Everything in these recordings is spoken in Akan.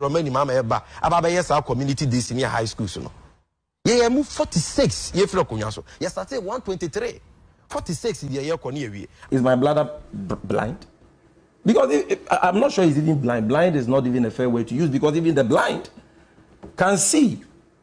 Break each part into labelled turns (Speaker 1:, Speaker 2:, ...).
Speaker 1: Borɔma anim ama yɛba aba abɛyɛ saa community day senior high schools no yɛyɛ mu forty six yɛfiri akonnwa so yɛsate one twenty three forty six deɛ yɛkɔ ne yɛwie. Is my bladder
Speaker 2: blind? Because if, if, I'm not sure it's even blind. Blind is not even a fair word to use because even the blind can see.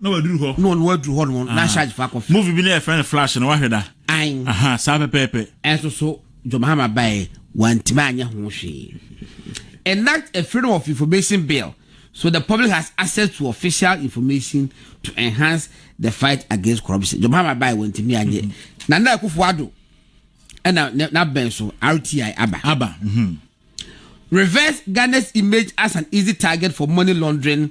Speaker 3: na waduru hɔ. na ɔno aduru hɔ no na charge fa kɔfɛ. movie bi na yɛfrɛ no flash no wahwɛ da. an aha saa pɛpɛɛpɛ. ɛnso so John Mahama baeɛ wantumi anyɛ ho hwee enact a freedom of information bill so the public has access to official information to enhance the fight against corruption John Mahama baeɛ wantumi anyɛ Nana Akufo Addo ɛna ne- n'abɛn so RTI aba aba mhm. reverse Ghana's image as an easy target for money laundering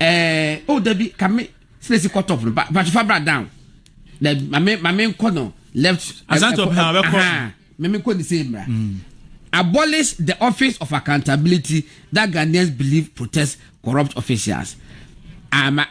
Speaker 4: ɛɛ o oh, dabi kame silesi kɔ top no ba ba tufa bra down na maame maame nkɔ no left. asante ɔpɛ ha ɔbɛkɔ maame nkɔ ne se mra. Mm. abolish the office of accountability that ghanaians believe protects corrupt officials ama. Ah,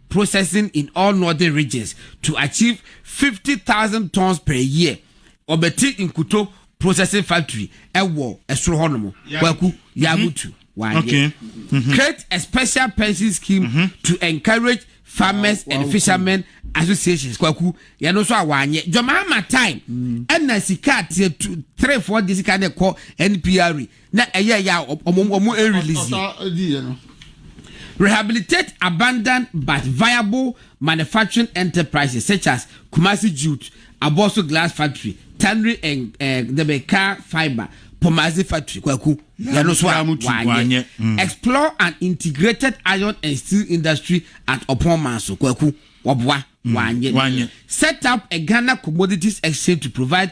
Speaker 4: processing in all northern regions to achieve fifty thousand tons per year ɔbɛte nkuto processing factory ɛwɔ ɛsoro hɔ nom kwaku yamutu wayɛ create a special pension scheme mm -hmm. to encourage farmers wow, and wow, fishermen cool. associations kwaku yɛn nso a wanyɛ jɔmaama time ɛna mm. sika ateɛ three four de sika ne kɔ npr na ɛyɛ ya wɔn wɔn ɛn release yi. Ɔtaa edi yɛ no. Rehabilitate abandoned but viable manufacturing enterprises such as Kumasi Jute, Abosso Glass Factory, Tannery and eh, dɛbɛ car fibre, Pomazi Factory, Kwaku, yɛn no so a Yamutu, wanyɛ. wanyɛ, mm. Explore an integrated iron and steel industry at Ɔpɔn Manso, Kwaku, wɔboa, wanyɛ. wanyɛ. Set up a Ghana Commodities Exchange to provide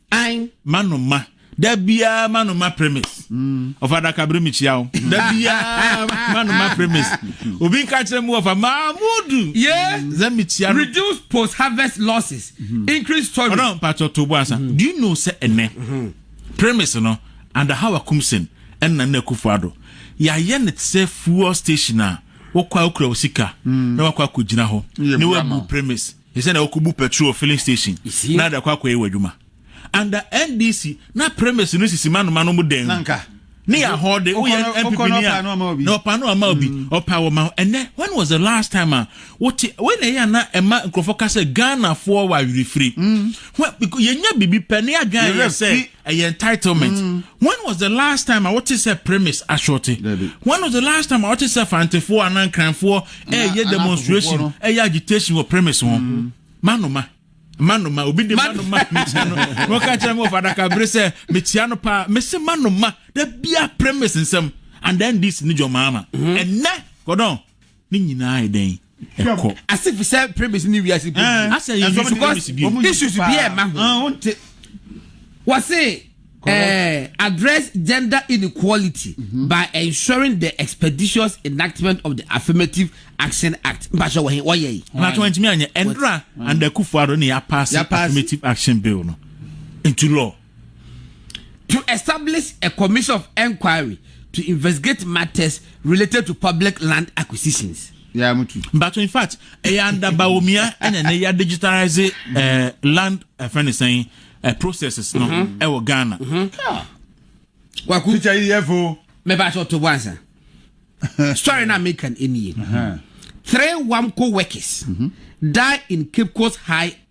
Speaker 3: Ae. Ma no ma. Da biara ma no ma premise. Ɔfa adaka bere mi kyia wo. Da biara ma no ma premise. Obi nka kyerɛ mu ɔfa Mahmudu. Ye. Sɛ mi kyia no. Reduce post
Speaker 4: harvest losses. Mm-hmm. Increase storage. Ɔdɔn mpatsɔ to bo asa.
Speaker 3: Mm-hmm. Do you know sɛ ɛnɛ mm-hmm. premise no under how akumsen ɛna na akufo ado yɛayɛ ne sɛ fuel station a wokɔ a wokura wo sika mm. na wakɔ akɔgyina hɔ ne wabu premise Ɛsɛ na wokobu petrol wɔ filling station na de akɔ akɔyɛ w'adwuma. Under NDC, na premises no sisi manoma no mu dan mu. Ne yɛ ahɔde, woyɛ MPP ni a, na ɔpa no ama obi, mm. ɔpa wɔ ma. Ɛnɛ, when was the last time a wote, wei na ɛyɛ a na ɛma nkurɔfoɔ ka sɛ Ghanafoɔ wɔ awerɛfiri. Mm. Yɛnya biribi pɛ ne adwene ayɛ sɛ ɛyɛ entitlement when was the last time a wote sɛ premise ashorte when was the last time a wote sɛ fantefoɔ anaa nkranfoɔ ɛyɛ eh, demonstration ɛyɛ eh, agitation wɔ premise ho mm-hmm. manoma manoma obi de manoma metia no wɔka kyerɛ me wɔfa adaka bere sɛ metia no paa mese manoma da bia premise nsɛm and then this ne dwɔmaama ɛnɛ mm-hmm. kɔdɔn Ne nyinaa ayɛ dɛn? Ɛkɔ. Ase fi sɛ premise ne wiase
Speaker 4: bi. Eh, Asɛ yɛ nsu premise bi. Issues bi a ɛma ho. Ah, wonte. Wɔse eh, address gender inequality mm -hmm. by ensuring the expeditious enactment of the Affirmative Action Act. Mpatsɛ wɔhe wɔyɛ yi.
Speaker 3: Ɔnatɔ wɔn ntumi anyɛ ɛnura and Akufo-Addo ne yɛ apaase Affirmative Action Bill no into law.
Speaker 4: to establish a commission of inquiry to investigate matters related to public land acquisitions. Yeah, mutu.
Speaker 5: But in fact,
Speaker 3: ɛyɛ under Bawumia ɛna ne ya digitalize ɛɛ eh, land ɛfɛn eh, ne sɛn ɛɛ eh, processes no mm-hmm. ɛwɔ Ghana. Mm-hmm.
Speaker 4: Waku. Teacher yi yɛ fo. Mɛ b'a sɔ to bɔ ansa. Story na mi kan eni ye. Three Wamco workers mm-hmm. die in Cape Coast High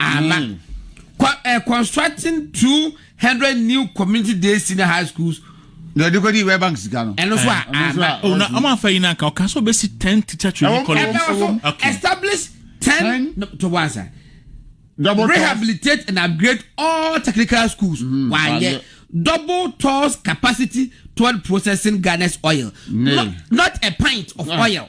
Speaker 4: Ala, kɔ ɛ constructing two hundred new community day senior high schools. na ɛde kɔ di wɛ
Speaker 5: bank sika no. ɛno so a ala.
Speaker 4: ɔna ɔmo afa
Speaker 3: yi na nka ɔka so bɛsi ten teacher training college. ɛna ɔso establish
Speaker 4: ten to one sa. rehabilitate and upgrade all technical schools. Mm-hmm. wanyɛ double tolls capacity toward processing garnet oil. not a pint of oil.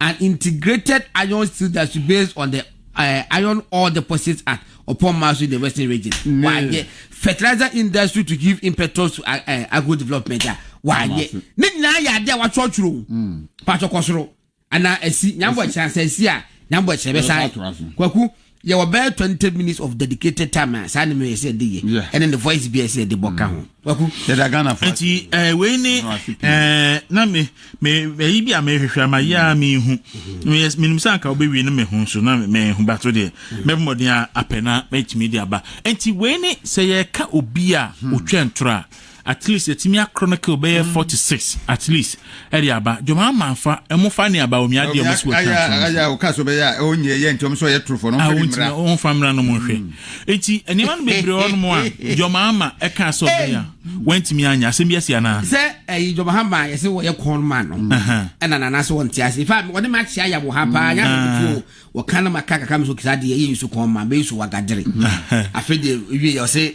Speaker 4: An integrated iron steel that should based on the uh, iron ore deposits at upon Masu in the western region. Mm. Why yeah. fertilizer industry to give impetus to uh, uh, agro development. Uh, why yeah. Ne nyinaa yɛ adeɛ a watwerɛ twerɛ mm. patɔ kɔ soro anaa asi nyambɔ kyerɛ asɛ asi a nyambɔ kyerɛ bɛ saa kwaku yɛwɔ bɛyɛ twenty minutes of dedicated time a saa nneɛma yɛ sɛ ɛde yɛ ɛne ne voice bi a ɛsɛ ɛde bɔ ka ho. waku yɛda ghana fo. nti ɛɛ eh, wei ne ɛɛ eh, na me me ɛyi bi a mehwehwɛ ama yi a mehu mm-hmm. meyɛ menim sɛ anka wobɛwie no me ho so na mehu ba so deɛ mm-hmm. mɛbɔ mmɔden a apɛ na mɛtumi de aba nti wei ne sɛ yɛka obi a ɔtwa hmm. ntorɔ a At least yɛtumi akoro no kill bɛyɛ four to six at least ɛde aba dwom ama afa ɛmo fa ne aba omi adeɛ ɔmo si wɔ twa so. Aya ɔka so bɛyɛ
Speaker 5: a ɔnyɛ ɛyɛ nti ɔmo so ɔyɛ torofo no ɔmo fɛ ne mmira. Ɔmo fa mmira no
Speaker 3: ɔmo nhwɛ nti nneɛma no bebree hɔ nom a dwom ama ɛka sɛ ɔbɛyɛ a wɔntumi anya asɛm bi asi anaa. Sɛ ɛyi dwom ama
Speaker 4: yɛsɛ wɔyɛ corn man no ɛna nana sɛ wɔnte ase ifa wɔde ma akyia ya wɔ ha paa nya no tuo wɔka no ma ka kakra mi so kisa adeɛ yɛ nsu corn man bɛyɛ su wagadere afei deɛ wie yɛ ɔse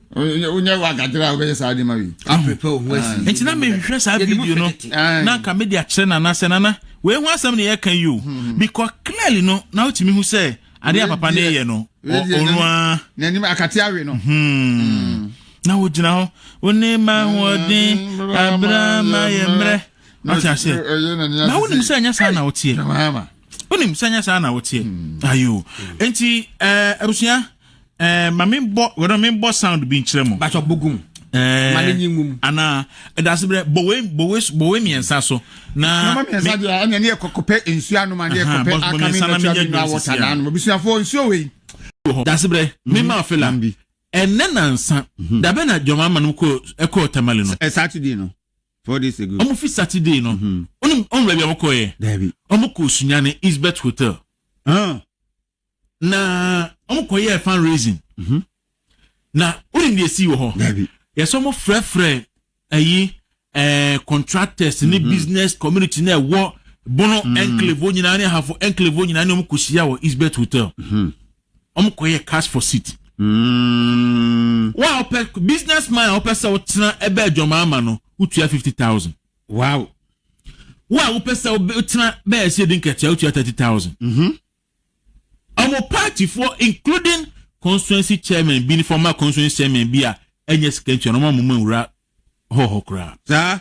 Speaker 5: wonyɛ wagadere a wobɛyɛ saa nneɛma wei aprepɛ wo ho asi ah.
Speaker 4: nti na mehwehwɛ saa
Speaker 3: video no na anka mede akyerɛ nana sɛ nana wei ho asɛm ne yɛka yi o hmm, hmm. bikɔ clearly no na wotumi hu sɛ adeɛ a papa ne yɛ no ɔnoa n'anim akate
Speaker 5: awe no hmm.
Speaker 3: na wogyina hɔ wo ne ma hoɔden abra ma yɛ mmerɛ ɔte aseɛ na wonim sɛ ɛnyɛ saa na woteɛ wonim
Speaker 5: sɛ ɛnyɛ saa
Speaker 3: na woteɛ ayo enti eh, abusua ɛɛ eh, ma mi bɔ wɔdɔ mi bɔ sound bi nkyerɛ mu. bàtɔ bugum.
Speaker 4: ɛɛ eh, ma ne nyi ngum. ana
Speaker 3: ɛdase brɛ bɔwɛ bɔwɛ bɔwɛ mmiɛnsa so. na nneɛma mmiɛnsa deɛ ɛna
Speaker 5: ne yɛ kɔkɔpɛ nsuo anoma ne yɛ kɔpɛ akami natural mineral water na anoma busuafo nsuo wei. dase brɛ
Speaker 3: mi mhm. maa fela ɛnɛ nansa mhm. dabe na jɔnma ama no kɔ ɛkɔ tamale no. ɛ saturday no
Speaker 5: four days ago. ɔmo fi saturday no
Speaker 3: ɔno ɔmo baabi a wɔkɔ yɛ ɔmo kɔ
Speaker 5: osunyane
Speaker 3: eastbet hotel. Ah. na wɔn kɔ yɛ fan raising mhm. na wonim deɛ si wɔ hɔ yɛsɛ wɔn
Speaker 5: frɛfrɛ
Speaker 3: ɛyi ɛɛ contractors ne mhm. business community na ɛwɔ bono mhm. enclave wɔn nyinaa ne ahafo enclave wɔn nyinaa ne wɔn kɔ hyia wɔ eastbet hotel wɔn kɔ yɛ cash for seat. Mm. wɔn a wɔpɛ business man a wɔpɛ sɛ wɔtena ɛbɛ adwamaa ama no wotua fifty thousand.
Speaker 5: wow wɔn a
Speaker 3: wɔpɛ sɛ wɔtena bɛyɛ sɛ ɛdi nkɛtɛ wotua thirty thousand. Ɔmo party foɔ including constituency chairman bi ne former constituency chairman bi a ɛnyɛ sika ntua no ɔmo ama ɔmo anwura hɔ hɔ koraa. Saa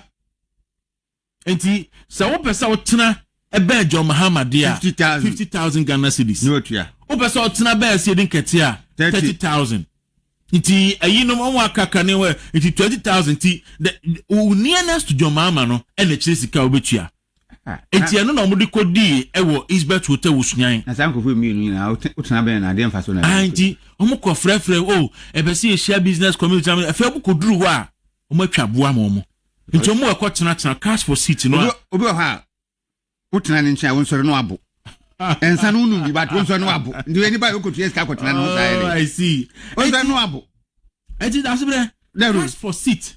Speaker 3: nti sɛ wopɛ sɛ wotena ɛbɛn John Mahama deɛ a fifty thousand Ghana cedis. Wopɛ sɛ
Speaker 4: wotena bɛn
Speaker 3: Asiedi Nkɛtɛ a thirty thousand. Nti ɛyinom ɔmo aka ka ne hɔ ɛ nti twenty thousand ti dɛ wo nearnest dwɔmaama no ɛna ɛkyerɛ sika a wobɛtua nti ɛno na ɔmo de kɔ dii ɛwɔ Eastbet hotel wɔ Sunyani. Na saa nkorɔfoɔ mmienu nyinaa
Speaker 4: wo tena bɛn na adeɛ mfasoɔ na ɛde nti ɔmo kɔ
Speaker 3: frɛ frɛ o oh, ɛbɛ sɛ yɛhyia business community na ɛfɛ ɔmo kɔ duru hɔ a ɔmo atwa aboa ma ɔmo nti ɔmo ɛkɔ tena tena cash for seat no a. Obi wɔ hɔ a
Speaker 4: wotena ne nkyɛn a wonsɔre no abo ɛnsa no wonom bi but wonsɔre no abo nti ɛni ba yɛkɔtua sika kɔtena no saa yɛde ah, wonsɔre
Speaker 3: no abo
Speaker 4: ɛti da so
Speaker 3: berɛ ask for seat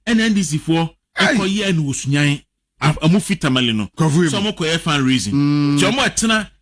Speaker 3: ɛna ndc foɔ ɛkɔyɛ ɛna wɔsunyan ɔmo fi tamale no sɛ ɔmo kɔyɛ fan raising nti mm. ɔmo ɛtena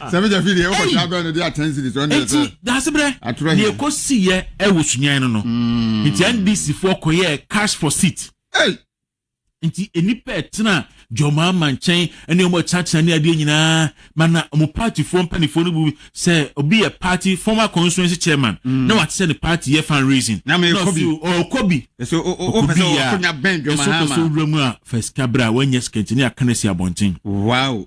Speaker 4: sɛ megyɛ
Speaker 5: fi deɛ wokɔhyɛ abɛ no de aten siri so ɛne sɛ daaseberɛ
Speaker 3: deɛ ɛkɔ siyɛ ɛwɔ sunyan no no hmm. nti ndc foɔ kɔyɛɛ cash for seat nti nnipa ɛtena jɔmaa ma nkyɛn ɛne ɔmo ɛkyinakyina ne adeɛ nyinaa ma na ɔmo paatifoɔ mpanimfoɔ no bu sɛ obi yɛ paati former constituency chairman hmm. na wate sɛ ne paati yɛ fan raising na ɔkɔ bi
Speaker 4: ɔkɔ bi
Speaker 3: ɛso ɔkɔ so wura mu a fɛsikabra wɔnyɛ sikɛntini akana si abɔnten. wow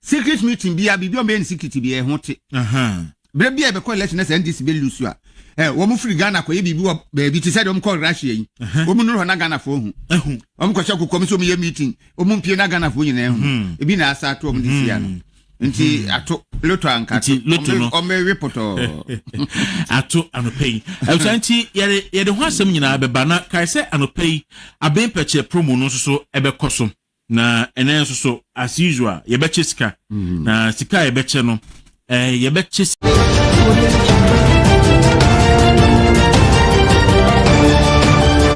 Speaker 4: Circuit meeting biaa biribi a wɔbɛyɛ no secret biaa ɛho te. Berɛ biaa yɛbɛkɔ election na sɛ NDC bɛ lose a, eh, wɔn firi Ghana kɔyɛ biribi wɔ baabi te sɛ deɛ wɔn kɔ Russia yi. Wɔn nuru hɔ na Ghanafoɔ hu. Wɔn kɔhyɛ kokoam sɛ wɔn yɛ meeting, wɔn mpie na Ghanafoɔ nyinaa hu. Ebi na asa ato wɔn de si ano. Nti hmm. ato loto anka nti loto no ɔmɛwe pɔtɔɔ
Speaker 3: ato anɔpɛ yi ɛwusa nti yɛde yɛde ho asɛm nyinaa bɛba na kae sɛ anɔpɛ yi abɛn pɛkyɛ promo no nso so ɛbɛkɔ so Na ɛnɛ nso so as usual yɛbɛkyɛ sika na sika a yɛbɛkyɛ no ɛɛ eh, yɛbɛkyɛ sika.